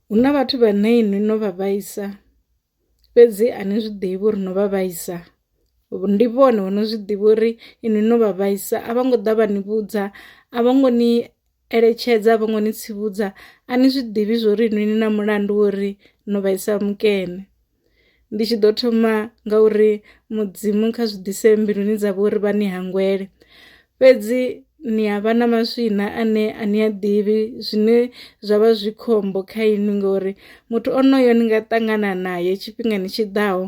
Hu na vhathu vhane inwi no vha vhaisa fhedzi a ni zwi ḓivhi uri no vha vhaisa ndi vhone vho no zwi ḓivha uri inwi no vha vhaisa a vho ngo ḓa vha ni vhudza a vho ngo ni eletshedza a vho ngo ni tsivhudza a ni zwi ḓivhi zwori inwi ni na mulandu wo ri no vhaisa mukene. ndi tshi ḓo thoma nga uri mudzimu kha zwi ḓise mbiluni dza vho uri vha ni hangwele fhedzi ni a vha na maswina ane a ni a ḓivhi zwine zwa vha zwi khombo kha inwi ngori muthu onoyo ni nga ṱangana naye tshifhingani tshi ḓaho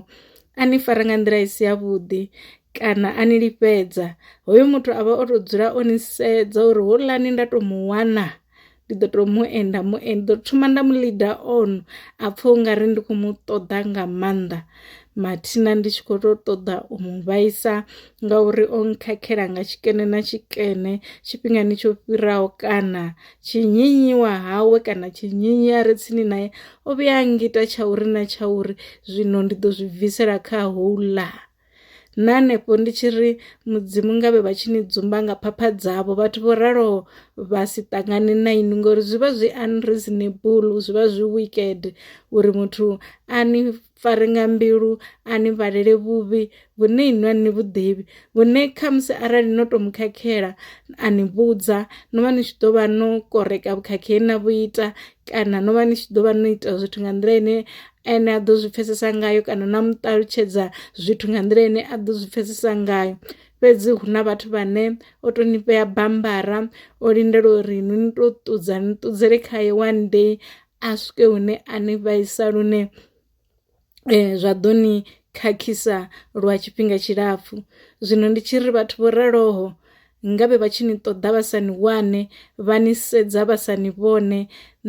a ni fara nga nḓila i si ya vhuḓi kana a ni lifhedza hoyo muthu a vha o to dzula o ni sedza uri houḽani nda to mu wana. ndi ḓo to mu enda mu enda ḓo thoma nda mu leader on a pfha u nga ri ndi khou mu ṱoḓa nga maanḓa mathina ndi tshi khou tou ṱoḓa u mu vhaisa ngauri o nkhakhela nga tshikene na tshikene tshifhingani tsho fhiraho kana tshinyinyiwa hawe kana tshinyinyi a re tsini naye o vhuya a ngita tsha uri na tsha uri zwino ndi ḓo zwi bvisela kha houḽa na hanefho ndi tshi ri mudzimu ngavhe vha tshi ni dzumba nga phapha dzavho vhathu vho raloho vha si ṱangane na inwi ngori zwi vha zwi unreasonable zwi vha zwi wicked uri muthu a ni fare nga mbilu a ni vhalele vhuvhi vhune inwi a ni vhuḓivhi vhune khamusi arali no to mu khakhela a ni vhudza no vha ni tshi ḓo vha no koreka vhukhakhi he na vhu ita kana no vha ni tshi ḓo vha no ita zwithu nga nḓila ine ene a ḓo zwi pfhesesa ngayo kana na mu ṱalutshedza zwithu nga nḓila ine a ḓo zwi pfhesesa ngayo fhedzi hu na vhathu vhane o to ni vhea bambara o lindela uri ni ni to ṱudza ni ṱudzele khaye one day a swike hune a ni vhaisa lune zwa ḓo ni khakhisa lwa tshifhinga tshilapfu. Zwino ndi tshi ri vhathu vho raloho ngavhe vha tshi ni ṱoḓa vha sa ni wane vha ni sedza vha sa ni vhone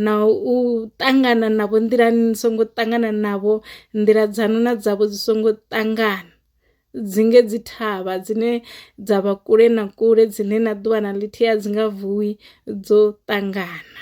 na u ṱangana navho nḓilani ni songo ṱangana navho nḓila dzanu na dzavho dzi songo ṱangana dzi nge dzi thavha dzine dza vha kule na kule dzine na ḓuvha na ḽithihi a dzi nga vuwi dzo ṱangana .